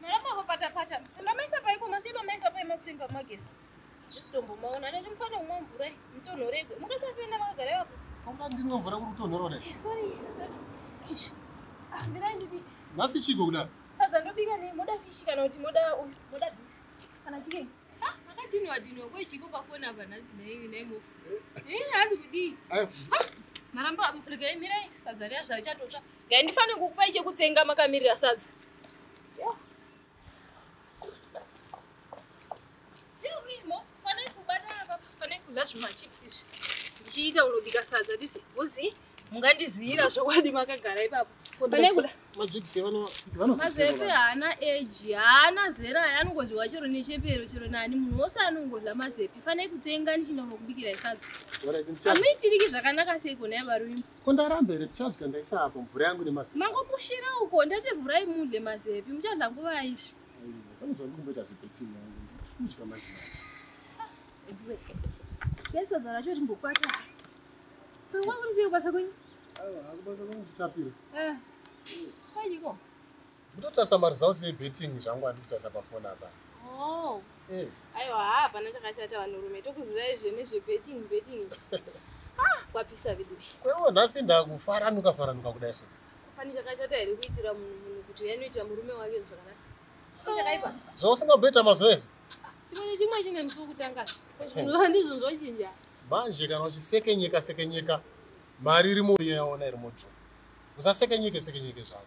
Maramba papata pata. Mamaisa paiko masi mamaisa pai makuseni pamageza. Zvitombo maona nani mfana umwe mvura mutonhoregwe. Mukasapenda makagara yako. Kamba ndinwe mvura kuri kutonhorore. Eh, sorry, sorry. Ish. Ah, ndira ndidi. Masi chiko kuda. Sadza ndobika ne moda fish kana kuti moda moda kana chicken. Ha, makadini wadini wako chiko pa phone apa nasi nayi nayi mo. Eh, hadi kudi. Ayo. Maramba regai mirai sadza riya zvarichatotsva. Dai ndifanire kukupai chekutsenga makamirira sadza. ndichiita unobika sadza titi vozi mungandiziyira zvokwadi makagara ipapo mazepe haana eji haana zera aya anongodyiwa chero nechepero chero nani munhu wose anongodya mazepe fanai kutsenga ndichinonokubikirai sadza amuitiriki zvakanaka seiko naya varuimba Ko ndaramba here tichadya ndaisa apo mvura yangu nemazepi. Mangopushira uko ndati vhurai mudle mazepi muchadla nguva izvi. Pane zvandi kumboita zvebetting yangu. Kudya manje manje. Pesa zara cho rimbokwata. So kwakurisei kubasa kwenyu? Awa, akubasa kwenyu kutapira. Eh. Kwanyiko. Mutotarisa maresults ebetting zvangu andikutarisa pafoni apa. Oh. Eh. Aiwa haa hapana chakashata vanhurume tokuzivai zve nezvebetting betting. ah, kwapisa veduwe. Kwewo nhasi ndakufaranuka faranuka kudai so. Pane chakashata here kuitira munhu kuti yanoitira murume wake zvakanaka? Chakaipa. Zvausingamboita mazuva ese. Chimwe nechimwe chine musi wokutanga. Zvinova ndizvo zvochinja. Manje kana uchisekenyeka sekenyeka mari iri muuye yaona iri mudro. Usasekenyeke sekenyeke zvako.